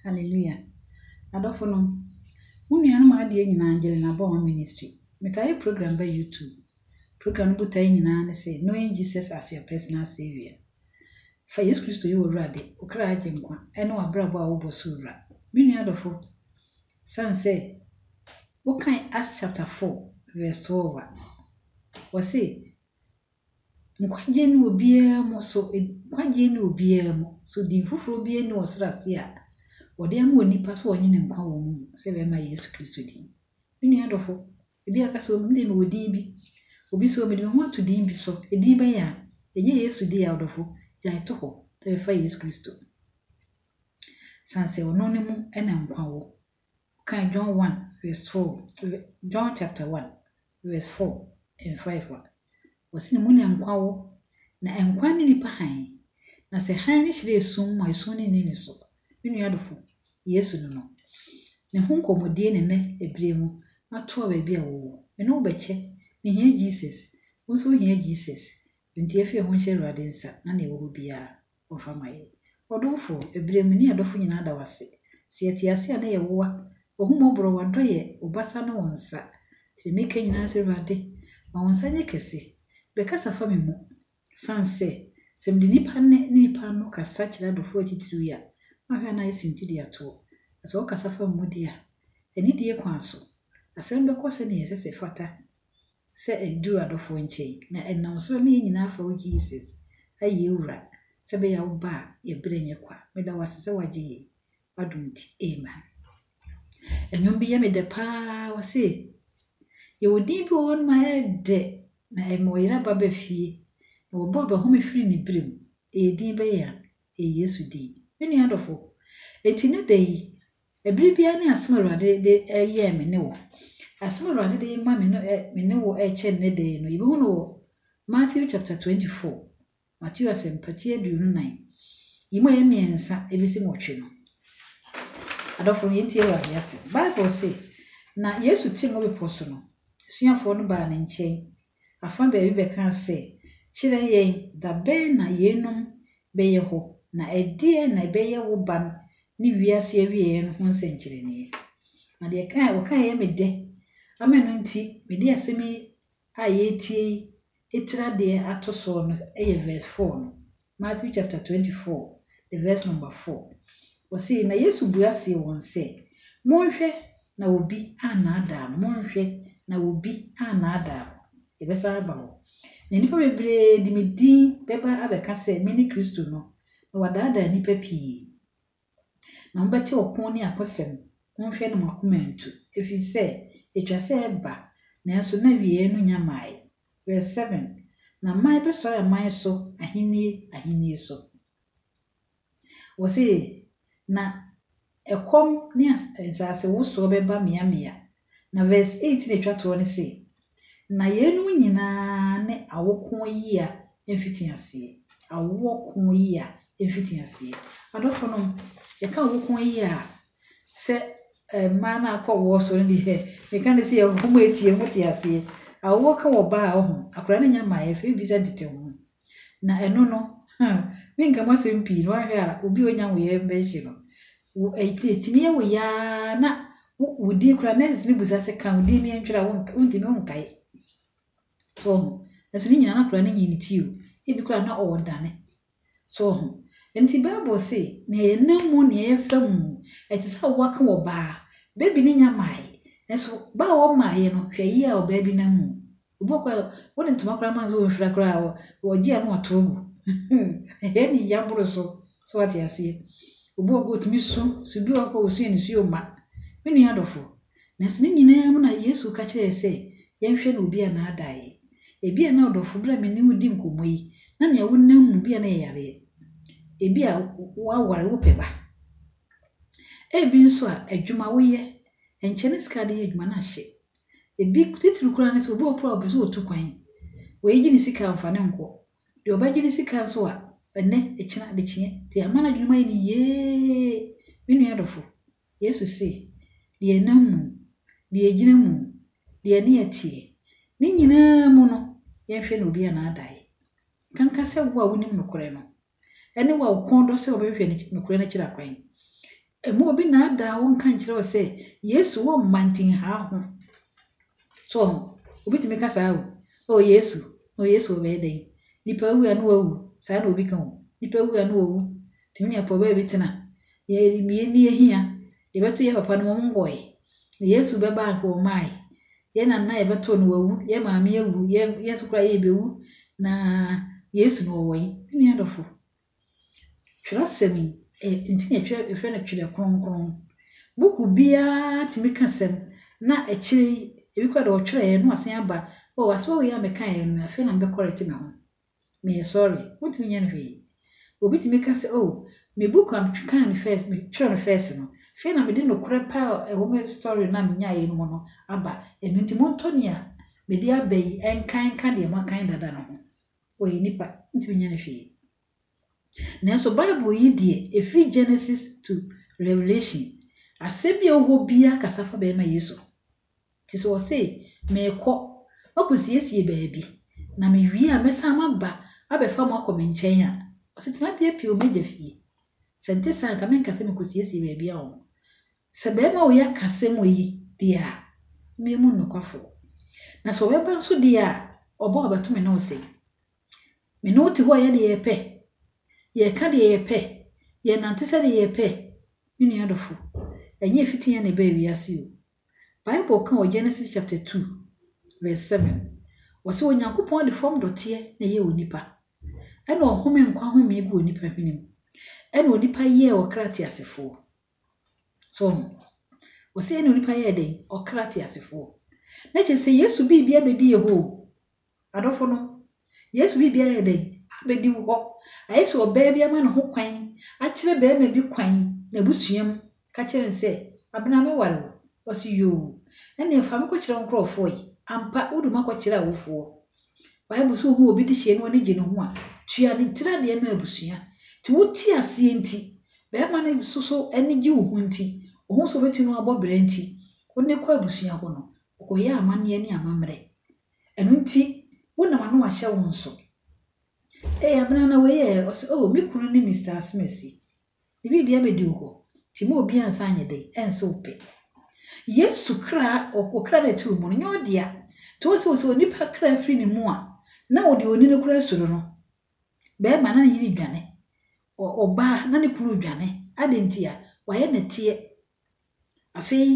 Hallelujah. Adɔfonom, mo nuanom a adeɛ nyinaa Angelina Bɔɔn Ministry. Metaa yɛ program bɛ YouTube. Program no botaeɛ nyinaa ne sɛ knowing Jesus as your personal saviour. Fa Yesu Kristo yɛ w'awurade, wo kra agye nkwa, ɛne w'abrabɔ a wobɔ so wura. Me nua adɔfo, sane sɛ wokan Acts chapter 4 verse 12 a, wɔse, Nkwagye nni obiara mu so Nkwagye nni obiara mu so Din foforɔ biara nni ɔsoro ase a Wɔde ama onipa sɛ ɔnye no nkwa wɔ mu mu sɛ bɛmma Yesu Kristo din. Me nua dɔfo, ebi a ka sɛ, O, me deɛ mewɔ din bi. Obi sɛ, O, mede me ho ato din bi so. Edin bɛn a? Ɛnyɛ Yesu din a, ɔdɔfo. Gyae to hɔ na bɛfa Yesu Kristo. San sɛ ɔno no mu na nkwa wɔ. Wokan John 1 vs 4, John chapter 1 vs. 4 and 5 a, ɔse na mu na nkwa wɔ, na nkwa ne nipa hann, na sɛ hann no hyerɛn sum mu a esum no nni ne so. Me nua adofo, Yesu no no. Me ho nkɔmmɔdie ne nnɛ ɛberɛ mu, matoa baabi a wowɔ. Me ne wo bɛkyɛ. Me hia Jesus. Wo nso wo hia Jesus. Enti yɛfie ho nhyɛ Awurade nsa, na nea ɛwɔ hɔ biara. wɔfa ma yɛn. Ɔdomfo, ɛberɛ mu, ne yɛn adɔfo nyinaa da wo ase. Sɛ yɛte ase a na yɛ woa, W'ahummɔborɔ, W'adɔ yɛ, Wo basa ne Wo nsa. Deɛ meka nyinaa sɛ, Awurade, ma Wo nsa nyɛ kɛse. Bɛkasa fa me mu. Sane sɛ, sɛ mede nnipa nne ne nnipa ano kasa kyerɛ adɔfoɔ atitiriw yi a, mahwɛ a na ayɛ sɛ mfidie atoɔ. Na sɛ wokasa fa me mu deɛ a, anidie kwan so, asɛm bɛkɔ sɛdeɛ ɛsɛ sɛ ɛfata, sɛ edur adɔfo nkyɛn, na ɛnam so ama hɛn nyina afa wo Jesus ayɛ yɛn Wura, sɛ bɛyɛ a wo ba a yɛbrɛ nye kwa. Meda wo ase sɛ wɔagye yɛn, w'adom ntsi, amen. Ndwom bi yɛ me dɛ paa, ɔse, Yɛwɔ din bi wɔ hɔ no ma ayɛ dɛ, na ɛma ɔyeraba ba fie, na wɔbɔ abahom firi ne berɛ mu, ɛyɛ din bɛyɛ an? Ɛyɛ Yesu din. Me nua dɔfo, enti nnɛ da yi, bere biara ne asɛm a Awurade de yɛɛ me ne wo. Asɛm a Awurade de ma me no, me ne wo rekyɛ nnɛ da yi no, yebehu no wɔ Matthew chapter 24, Mateo Asɛmpa ti aduonu nnan, yi mu a ɛyɛ mmiɛnsa ebesi nwɔtwe no. Adɔfo, yɛntie Awurade asɛm. Bible se, Na Yesu te Ngo Bepɔw so no, asuafoɔ no baa ne nkyɛn, afa baabi bɛkaa sɛ, Kyerɛ yɛn da bɛn na yeinom bɛyɛ hɔ, na ɛdeɛn na ɛbɛyɛ wo ba no ne wiase awieɛ no ho nsɛnkyerɛnneɛ? Na deɛ ɛkaeɛ ɔkaeɛ yɛ me dɛ, ama ɛno nti mede asɛm yi a yɛretie yi tiri adeɛ ato soɔ no yɛ verse four no. Matthew chapter 24 vs number 4, ɔse, Na Yesu bua see wɔn sɛ, Monhwɛ na obi annaadaa mo, monhwɛ na obi annaadaa mo, yɛbɛsan aba hɔ, na nnipa bebree de me din bɛba abɛka sɛ mene Kristo no, na wɔadaadaa nnipa pii. Na mobɛte ɔko ne akosɛm, monhwɛ na mo akoma antu, ɛfiri sɛ ɛtwa sɛ ɛba, nanso na awieeɛ no nnya mmaeɛ. Verse 7, Na man bɛsɔre aman so, ahennie ahennie so. Ɔse, Na ɛkɔm ne nsasewosoɔ bɛba mmeammea, Na verse 18 a etwa toɔ no se, Na yeinom nyina ara ne awokoɔ yea mfitiaseɛ, awoɔ koɔ yea mfitiaseɛ. Adɔfoɔ nom, yɛka awokoɔ yea a, sɛ mmaa no akɔ awoɔ so no deɛ, meka ne se yɛ hom a etie mote aseɛ. Awoɔ ka ɔbaa a, ɔho, akwadaa no nnya mmaeɛ, afei bisa tete ho. Na ɛno no, huh, menka mu asɛm pii no, woanhwɛ a obi a onya wo yɛ bɛhye no. Wo, ɛtumi yɛ wo yɛ ara na wo, wo din koraa, nurses no bisa sɛ, ka wo din no yɛntwerɛ a, wonka, wontumi, wonkae. So ɔho? Nanso ne nyinaa na akwadaa no nyii ne ti o. Ebi koraa na ɔredane. So ɔho? Enti Bible se, nea ɛyɛ nam mu, nea ɛyɛ fam mu, ɛte sɛ awoɔ aka wɔ baa. Baby no nya mmaeɛ. Nanso baa a ɔmmaeɛ no, hwɛ yie a ɔbaa bi nam mu. Obi wɔ hɔ koraa wode ntoma koraa ma no sɛ ɔnhura koraa a ɔgye a na wato agu. Ɛyɛ ne ya boro so. So wate aseɛ? Obi wɔ hɔ ɔtumi su, su bi wɔ hɔ koraa ɔsu a nisuo mma. Me nua dɔfo, nanso ne nyinaa mu na Yesu ka kyerɛɛ sɛ yɛnhwɛ na obi annaadaa yɛn. Ebia na ɔdɔfo berɛ a me ne wo di nkɔmmɔ yi, na nea wonam mu bi a na ɛyɛ yareɛ. Ebia woaware wopɛ ba. Ebi nso a adwuma woyɛ, ɛnkyɛ ne sika a wode yɛ adwuma no ahye. Ebi titiriw koraa ne sɛ obi wɔ hɔ mpo a ɔpɛ sɛ otu kwan. Wei gye ne sika a ɔmfa no nkɔ. Deɛ ɔbɛgye ne sika nso a, ɛnnɛ, ɛkyena, adekyeɛ. Deɛ ama n'adwene mu ayɛ no yee. Me nua dɔfo, Yesu se, Deɛ ɛnam mu, deɛ ɛgyina mu, deɛ ɛne ɛteɛ, ne nyinaa mu no, yɛnhwɛ na obi annaadae. Nkanka sɛ wo a wonim nokorɛ no, ɛne wo a wo kɔn dɔ sɛ wobɛhwehwɛ ne nokorɛ no akyiri akwan. Mma obi nnaadaa wo nka nkyerɛ wo sɛ Yesu wɔ mma nti nha ho. So woahu? Obi tumi ka saa o, Oh Yesu, oh Yesu ɔbɛyɛ dɛn? Nipa awu a na wawu, saa na obi ka o. Nipa awu a na wawu, tumi nya pɔbaa bi tena. Yɛ, yɛ ni yɛ hia. Yɛbɛto yɛn papa no mmom ngɔe. Na Yesu bɛba a anka wɔmaae. Yɛn na na yɛbɛto no wawu, yɛn maame awu, yɛn yɛn nso koraa yɛrebewu, na Yesu no ɔwɔ he? Me nua dɔfo, twerɛsɛm yi, ɛ, nti na yɛtwerɛ, yɛfrɛ no Twerɛ Kronkron. Buku biara tumi ka asɛm, na akyire yi, ebi koraa deɛ wɔtwerɛeɛ na wɔasan aba, o, asɛm wei a mekaeɛ no, afei na mebɛkɔrɛte me ho. Mensɔre. Wontumi nyɛ no hwee. Obi tumi ka sɛ, Oh, me book a mekenkaan no first, me twerɛ no first no, hwɛ na mede nokorɛ pa a ɛwɔ me story no a menyaeɛ no mu no aba. Ɛno nti montɔ nea mede aba yi nkan nka deɛ moakan dada no ho. Ɔyɛ nipa, wontumi nyɛ no hwee. Nanso Bible yi deɛ, ɛfiri Genesis to Revelation, asɛm bi a ɛwɔ hɔ biara kasa fa bɛrima Yesu ho. Nti sɛ ɔse, Merekɔ, makɔsiesie baabi, na mewie a mɛsan maba abɛfa mo akɔ me nkyɛn a, ɔse, Tena piapia o m'agya fie. Sɛ ɛnte saa a, anka menka sɛ mekɔsiesie baabi ama wo. Sɛ barima wei aka asɛm wei deɛ a, memmu no nokwafoɔ. Na sɛ ɔbɛba nso deɛ a, ɔba a ɔbɛto me ne wo sɛn? Me ne wo te hɔ a, yɛyɛ deɛ yɛpɛ, yɛka deɛ yɛpɛ, yɛnante sɛdeɛ yɛpɛ. Me nua dɔfo, ɛnyɛ fitiiɛ na ɛbaa wiase o, Bible ka wɔ Genesis chapter two verse seven, ɔse Onyankopɔn de fam dɔteɛ na ɛyɛɛ onipa, ɛna ɔhome nkwa homee gu onipa hwene mu, ɛna onipa yɛɛ ɔkra teasefoɔ. So ɔho, ɔse ɛna onipa yɛɛ dɛn? Ɔkra teasefoɔ. Na kyerɛ sɛ Yesu biribia bɛdi yɛ hɔ o, Adɔfo no, Yesu biribi ayɛ dɛn? Abedi wo hɔ. Ayɛ sɛ ɔbaa bi ama ne ho kwan, akyerɛ barima bi kwan, n'abusua mu, ka kyerɛ no sɛ, Abena, mɛware wo? Ɔse, Yoo. Ɛnneɛ fa me kɔkyerɛ wo nkorɔfoɔ yi. Ampa, wodu mu akɔkyerɛ awofoɔ. Bible se ohu obi dehyeɛ na w'ani gye ne ho a, tua ne tiri adeɛ ma abusua. Nti wo te aseɛ nti, barima no nso so ani gye wo ho nti, ɔhu sɛ ɔbɛtumi ne wo abɔ bra nti, wo ne no kɔ abusua hɔ no, ɔkɔyɛ amanneɛ ne amammerɛ. Ɛno nti, wo na w'ano ahyɛ wo nso. Ee, abena na wei ɛ? Ɔse, Oh, me kunu ne Mister Asmasi. Ne biribia bɛdi wo hɔ, nti ma obiara nsa nyɛ den, ɛnse wo pɛ. Yesu kra, wo kra no a ɛte wo mu no, nyɛ wo dea. Nti wohu sɛ, wo sɛ onipa kra firi ne mu a, na wo deɛ ɔni no koraa suro no. Bɛɛma, na ne yere dwane. Ɔ, ɔbaa, na ne kunu dwane. Adɛn ntia? Wayɛ nɛteɛ. Afei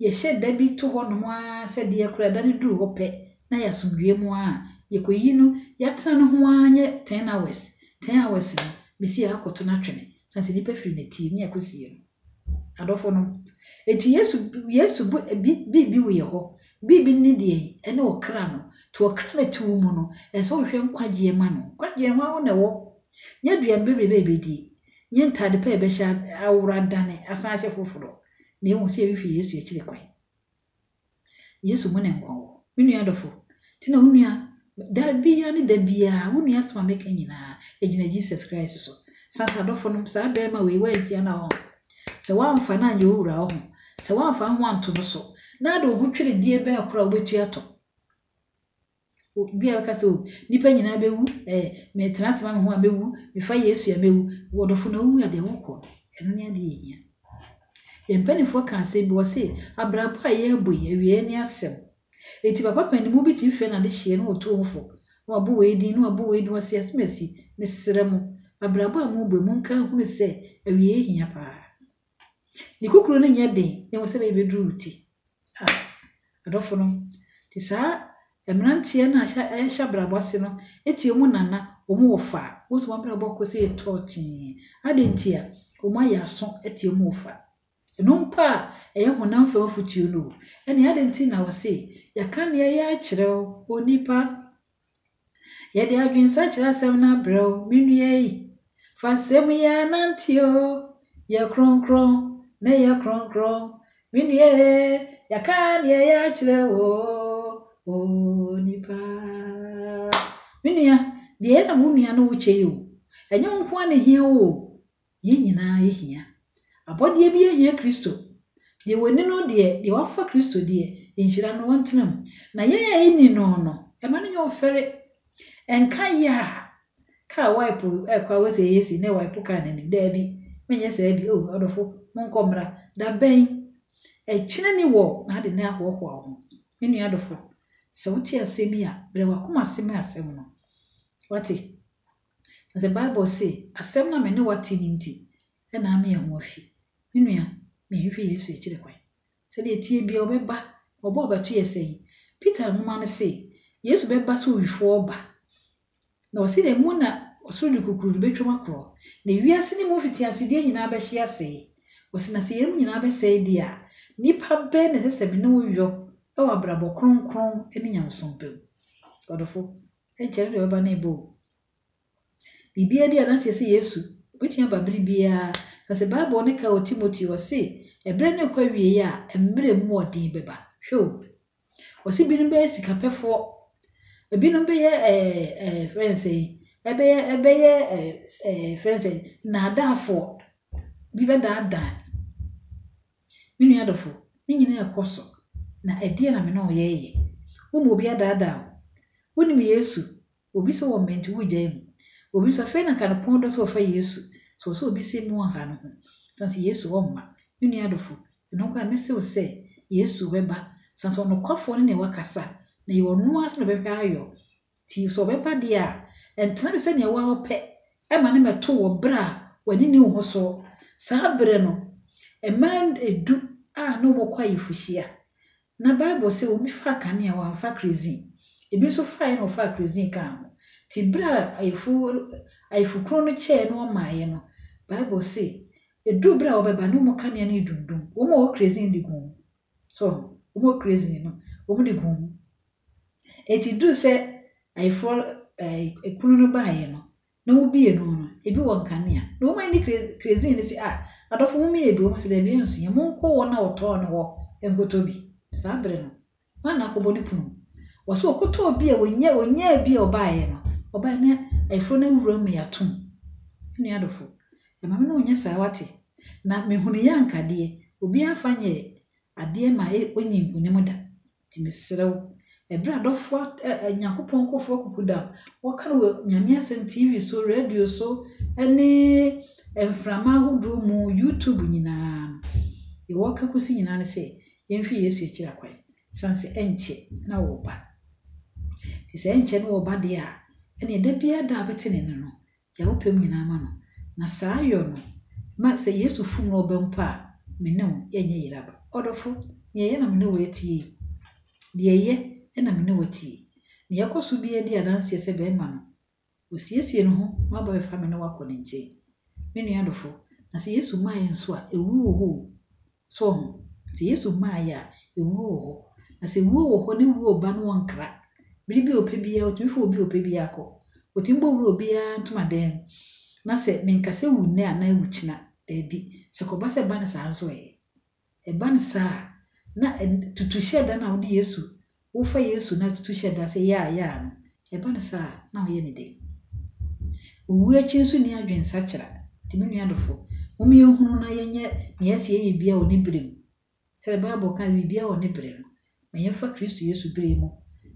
yɛhyɛ da bi to hɔnom ara sɛ deɛ kora da no duru hɔ pɛ na yɛasomdwoeɛ mu ara a, yɛkɔyi no, yɛatena no ho ara nyɛ ten hours, ten hours no, mesi a akɔto no atwene, sane sɛ nnipa firi n'atie ne akɔsie no. Adɔfonom, enti Yesu, Yesu bo, bi, biribi weɛ hɔ, biribi ne deɛ yi, ɛne ɔkra no, nti ɔkra no te wo mu no, ɛsɛ sɛ wohwehwɛ nkwagyeɛ ma no, nkwagyeɛ hɔ ara wo na ɛwɔ, nyɛ aduane bebrebe a yɛbɛdie, Nyɛ ntade pa a ɛbɛhyɛ aworo adane asan ahyɛ foforo, na mmom sɛ yɛhwehwɛ Yesu akyiri kwan. Yesu mu na nkwa wɔ. Me nua dɔfo, te na wo nua, da biara ne da biara, wo nua asɛm a meka nyinaa, egyina Jesus Christ so. Santa adɔfonom, saa barima wei, woanhyia no a, sɛ woamfa no anyɛ wo wura a, sɛ woamfa wo ho anto no so, na ade wo ho tweredie bɛn koraa a wobɛtua atɔ? Obi a ɔbɛka sɛ, oh, nnipa nyinaa bɛwu, eh, metena ase ma me ho a mɛwu, mefa Yesu a mɛwu. Wɔdɔfo na wowu a deɛ wokɔ no, ɛno ne adeɛ yɛhia. Yɛn mpanimfoɔ ka asɛm bi, wɔse, abrabɔ a yɛrebɔ yi, awieɛ ne asɛm. Enti papa panimu bi tumi frɛ n'adehyeɛ na ɔtu wɔn fo, na wabɔ wei din, na wabɔ wei din, wɔse, asɛm asi, mesrɛ mo, abrabɔ a morebɔ yi, monka nhunu sɛ awieɛ hia paa. Ne kukuru no nyɛ den na mmom sɛ ɛbɛyɛ ɛbɛduru wo ti. Ah, adɔfo no, te saa mmeranteɛ no a hyɛ ɛhyɛ abrabɔ ase no tie wɔn nana, wɔn wɔfa. Wohu sɛ wɔn abrabɔ kɔ sɛ ɛtɔɔ tee. Adɛn nti a? Wɔayɛ aso atie wɔn wɔfa. Ɛno mpo a, ɛyɛ honam fam afotuo no o. Ɛnneɛ adɛn nti na wɔse, Yɛaka nea ɛyɛ akyerɛ wo, onipa? Yɛde adwensa kyerɛ asɛm no abrɛ wo, me nua yi. Fa nsɛm yi ara nante o, Yɛ kronkron, na yɛ kronkron. Me nua e, yɛaka nea ɛyɛ akyerɛ wo o, onipa. Me nua, deɛ ɛyɛ na wo nua ne wo kyɛ yi o. Ɛnyɛ wo nko ara na ɛhia wo o, Yɛn nyinaa yɛhia. Abɔdeɛ biara hia Kristo. Deɛ wɔnni no deɛ, deɛ wɔafa Kristo deɛ, nhyira no wɔntena mu. Na yɛn a yɛnni no no, mma no nyɛ wo fɛre. Ɛnka yɛ a kaa wipe rekɔ a wosɛ yɛ si na ɛwipe kaa no anim. Daabi, menyɛ saa bi. O, adɔfo, monkɔ mmra. Da bɛn? Ɛkyena ni wɔ na ade nnɛ ahoahoa wo ho. Me nua adɔfo, sɛ wote asɛm yi a, brɛ w'akoma ase ma asɛm no. Wate? Na sɛ Bible se, Asɛm no a me ne wo ate no nti na ame yɛn ho afi. Me nua, menhwehwɛ Yesu akyiri kwan. Sɛdeɛ ɛteɛ biara, ɔbɛba. Ɔba a ɔbɛto yɛ sɛn? Peter nwoma no se, Yesu bɛba sɛ owifoɔ ba. Na ɔse dɛn? Mu na ɔsoro de kukuroo no bɛtwam akorɔ, na wiase no mu mfitiasedeɛ nyinaa bɛhye asɛe. Ɔse, Na sɛ yeinom nyinaa bɛsɛe deɛ a, nnipa bɛn na ɛsɛ sɛ me ne wo yɔ wɔ abrabɔ kronkron ne nyamesompa mu? Ɔdɔfo. Agya no deɛ ɔbɛba no rebɔ o. Biribiara di adanseɛ sɛ Yesu bɛtumi aba bere biara. Na sɛ Bible no ka wɔ Timoteo, ɔse, ɛberɛ no rekɔ awieeɛ a, mmerɛ mu ɔden bɛba. Hwɛ o! Ɔse binom bɛyɛ sikapɛfoɔ, ebinom bɛyɛ ɛɛ ɛɛ frɛ no sɛ yi, ɛbɛyɛ ɛbɛyɛ ɛɛ ɛɛ frɛ no sɛ yi, nnaadaafoɔ. Bi bɛdaadaa. Me nua dɔfo, ne nyinaa ɛkɔ so, na ɛdeɛn na me ne wo yɛɛyɛ? Wo ma obi adaadaa wo. Wonim Yesu? Obi se wɔ mɛnti wo gyae mu. Obi nso afei na nka ne pon dɔ se ɔfa Yesu. So ɔsɛ obi se mu ɔha no ho? San se Yesu ɔmma. Me nua dɔfo, ɛno nko a me se wo sɛ, Yesu ɔbɛba. San se ɔnokwafoɔ ne nea wakasa, na ɛyɛ ɔno ara nso na ɔbɛhwɛ ayɔ Nti sɛ ɔbɛba deɛ a, ɛntena te sɛ nea wo ara wopɛ ma no mmɛto wɔ berɛ a w'ani nni wo ho soɔ. Saa berɛ no, mmaa du a na wɔkɔ ayefohyia, na Bible se wɔn bi faa kanea, wɔamfa kerezin. Ebi nso faeɛ na wɔfaa kerezin kaa ho. Nti berɛ a ayefo, ayefokunu no kyɛɛ na wɔmaaeɛ no, Bible se, ɛduu berɛ a wɔbɛba no, wɔn kanea no redundum, wɔn a wɔwɔ kerezin de guu mu. So wɔn crazy no, wɔde guu mu. Enti duru sɛ ayeforɔ ɛɛ kunu no baeɛ no, na wobie no no, ebi wɔ nkanea. Na wɔn ani crazy crazy no sɛ ah adɔfo mo mmie bi wɔn sɛ daabi ɛnso yɛ monkɔ wɔn a wɔtɔɔ no hɔ nkɔtɔ bi. Saa bere no, wɔn na akɔbɔ ne pono. Wɔsɛ wɔkɔtɔɔ bi a wɔnyɛ wɔnyaa bi a ɔbaeɛ no, ɔbaeɛ na ayeforɔ no awura mu yɛ atom. Nua adɔfo, Ɛma me ne wo nyɛ saa wate. Na mehunu yɛ anka deɛ obiara mfa nyɛ adeɛ ma ɔnyi nkunim da. Nti mesrɛ wo, ɛberɛ a adɔfoɔ a ɛ ɛ Nyankopɔn nkorɔfoɔ akuku da no, wɔka no wɔ Nyame asɛm TV so, radio so, ne mframa ahodoɔ mu, YouTube nyinaa no, deɛ wɔka kɔsi nyinaa ne sɛ, yɛnhwɛ Yesu akyiri akwan, ɛsiane sɛ ɛnkyɛ na ɔreba. Nti sɛ ɛnkyɛ na ɔreba deɛ a, ɛnneɛ da biara da a wobɛte ne nne no, Gya wo pɛ mu nyinaa ma no, na saa yɔ no ma sɛ Yesu fom na ɔba mpo a, me ne wo yɛnyɛ yera da. Ɔdɔfo, nea ɛyɛ na me ne wo atie yi, deɛ ɛyɛ na me ne wo atie. Nea ɛkɔ so biara di adanseɛ sɛ bɛrima no, ɔsiesie ne ho ma aba bɛfa me ne wo akɔ ne nkyɛn. Me nua dɔfo, na sɛ Yesu mmaeɛ nso a, ɛwu wɔ hɔ o, So woahu? Sɛ Yesu mmaeɛ a, ewuo wɔ hɔ. Na sɛ ewuo wɔ hɔ ne wuo reba no wɔnkra. Bere bi a ɔpɛ biara, ɔtumi fa obi a ɔpɛ biara kɔ. Ɔtumi bɔ wura obiara ntomadan mu. Na sɛ menka sɛ wu nnɛ anaa wu kyena, daabi. Sɛ kɔba sɛ ɛba no saa nso ɛ? Ɛba no saa a, na tutuhyɛ da no a wode Yesu Wofa Yesu no atutu hyɛ da sɛ yaa yaa no, ɛba no saa a, na ɔyɛ ne dɛn? Owu akyi nso nni adwensakyera. Enti me nua dɔfo, momma yɛnhunu na yɛnyɛ nea ɛsɛ sɛ yɛyɛ biara wɔ ne bere mu. Sɛnea Bible ka no, biribiara wɔ ne bere no. Ma yɛmfa Kristo Yesu bere mu,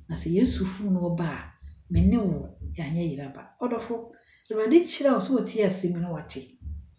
na sɛ Yesu fom na ɔba a, me ne wo, yɛanyɛ yere aba. Ɔdɔfo, Awurade nhyira wo sɛ wotie asɛm yi na woate.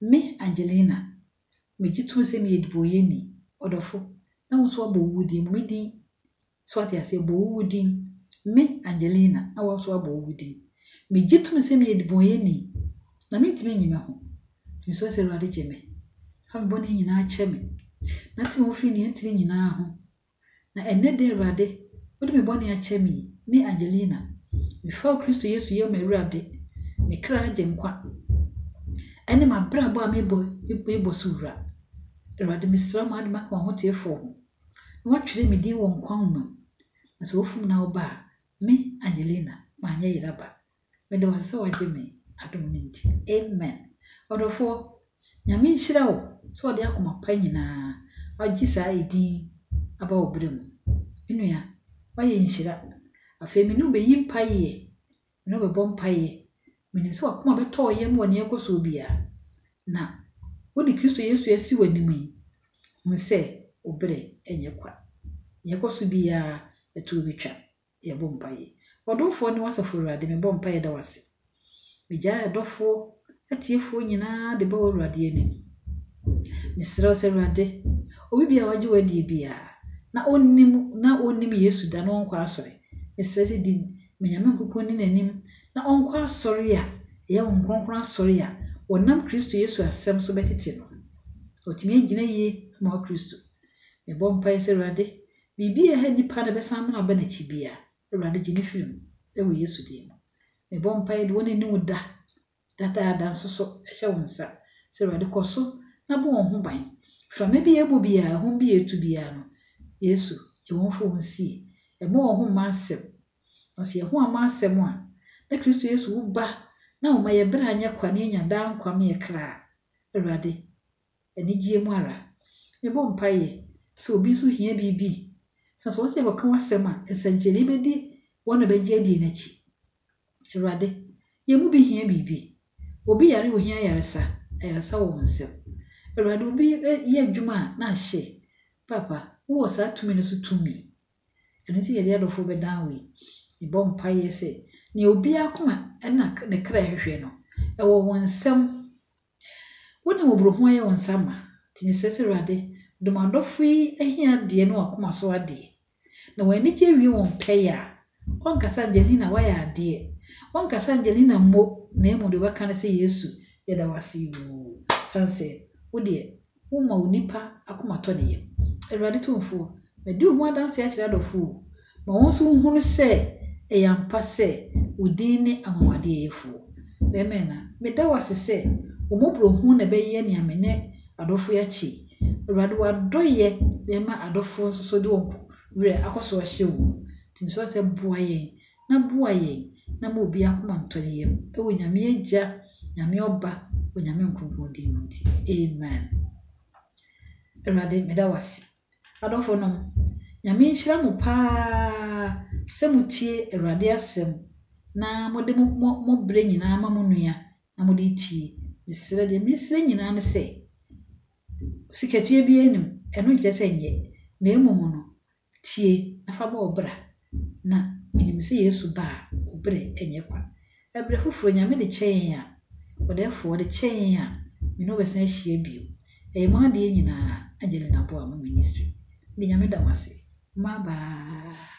Me, Angelina, megye tom sɛ meyɛ dibɔnyɛni, ɔdɔfo, na wo nso wɔabɔ wo din mu, me din. So woate aseɛ? Wɔbɔ wo din. Me, Angelina, na wo nso wɔabɔ wo din. Megye tom sɛ meyɛ dibɔnyɛni, na mentumi nyi me ho. Nti mesrɛ sɛ Awurade gye me. Fa me bɔne nyinaa kyɛ me, na te me ho firi nea ɛntene nyinaa ho. Na ɛnnɛ da Awurade, wode me bɔne akyɛ me yi, me Angelina, mefaa Kristo Yesu yɛ m'Awurade, me kra agyenkwa, ɛne m'abrabɔ a mebɔ yi bɔ so wura. Awurade, mesrɛ wo ma wode maka w'ahoteefoɔ ho, na wɔatwerɛ me din wɔ nkwa nwoma mu, na sɛ wɔfom na wɔba a, me, Angelina, manyɛ yera ba, Meda wo ase sɛ wagye me adom no nti. Amen. Ɔdɔfoɔ, Nyame nhyira wo sɛ wode akoma pa nyinaa agye saa edin aba wo berɛ mu. Me nua, woayɛ nhyira. Afei me ne wo bɛyi mpaeɛ, me ne wo bɛbɔ mpaeɛ. Menim sɛ w'akoma bɛtɔ wo yam wɔ nea ɛrekɔ soɔ biara. Na wode Kristo Yesu asi w'anim yi, hunu sɛ wo berɛ nyɛ kwa. Nea ɛkɔ so biara, ɛtoɔ bɛtwa. yɛbɔ mpaeɛ. Ɔdomfoɔ ne w'asafo Awurade mebɔ mpaeɛ da w'ase. Megyae adɔfoɔ, atiefoɔ nyinaa de ba w'Awurade anim. Mesrɛ wo sɛ Awurade, obi biara wagye w'adie biara na ɔnnim na ɔnnim Yesu da na ɔnkɔ asɔre. Mesrɛ sɛ di Menyame nkuku ne n'anim na ɔnkɔ asɔre a ɛyɛ Honhom Kronkron asɔre a wɔnam Kristo Yesu asɛm so bɛtete no. Watumi agyina yie ama wo Kristo. Mebɔ mpaeɛ sɛ Awurade, Biribi a ɛha nnipa no bɛsan amena aba n'akyi biara, Awurade gye me firi mu, wɔ Yesu din mu. Mebɔ mpaeɛ de wɔn a ɛnni wo da, dada da nso so hyɛ wo nsa, sɛ Awurade kɔ so na bɔ wɔn ho ban. Mframa bi a ɛbɔ biara, ahum bi a ɛtu biara no, Yesu, gye wɔn firi wɔn sie. Ɛmmɔ wɔn ho mma asɛm. Na sɛ yɛn ho amma asɛm a, na Kristo Yesu wo ba na ɔma yɛn berɛ anyɛ kwa na yɛanya daa nkwa ma yɛn kra. Awurade, anigyeɛ mu ara. Yɛbɔ mpaeɛ sɛ obi nso hia biribi, na sɛ wɔse yɛkɔka w'asɛm a, nsɛnkyerɛnee bɛdi wɔn a bɛgye adie no akyi. Awurade, yɛn mu bi hia biribi. Obi yare a ohia ayaresa, ayaresa wɔ wo nsam. Awurade, obi yɛ adwuma a na ahye, Paapa, wo wɔ saa tumi no so tumi. Ɛno nti na yɛde adɔfoɔ bɛdan wo yi. Yɛbɔ mpaeɛ sɛ nea obiara akoma ɛna ne kra hwehwɛ no, ɛwɔ wo nsam. Wo na mmɔborɔhunu ayɛ wo nsa ma, nti mesrɛ sɛ Awurade, dom adɔfo yi ahiadeɛ ne wɔn akoma so adeɛ, na wɔn anigyeɛ wie wɔn pɛyɛ a, wɔnkasa Angelina woayɛ adeɛ, wɔnkasa Angelina mmo, na mmom deɛ wɔbɛka ne sɛ Yesu yɛda wo ase oo, sane sɛ, wo deɛ, Woma onipa akoma tɔ ne yam. Awurade Tumfoɔ, madi wo ho adanseɛ akyerɛ adɔfoɔ o, ma wɔn nso nhunu sɛ ɛyɛ ampa sɛ wo din ne anwanwadeɛ yɛfoɔ. Amen na meda wo ase sɛ wo mmɔborɔhunu na ɛbɛyɛ nea me ne adɔfoɔ yi akyɛ yi. Awurade w'adɔeɛ na ɛma adɔfoɔ nso so de wɔn werɛ akɔ so ahyɛ wo mu. Nti mesrɛ wo sɛ boa yɛn na boa yɛn na ma obiara akoma ntɔ ne yam, wɔ Nyame Agya, Nyame Ɔba, Onyame Nkronkron din mu nti, amen. Awurade, meda wo ase. Adɔfo nom, Nyame nhyira mo paa sɛ mo tie Awurade asɛm na mo de mo, mo, mo berɛ nyinaa ma mo nua na mo de tie. Mesrɛ, deɛ mesrɛ nyinaa ne sɛ, sikatua biara nim, ɛno nkyerɛ sɛ nyɛ, na mmom no, Tie, na fa bɔ wo bra, na minim sɛ Yesu ba a, wo bere nyɛ kwa. Ɛberɛ foforɔ, Nyame de kyɛ yɛn a, Ɔdɛɛfoɔ, de kyɛ yɛn a, me ne wo bɛsan ahyia bio. Ɛyɛ mo adeɛ nyinaa, Angelina Boamah Ministry. Mede Nyame da mo ase. Bye bye.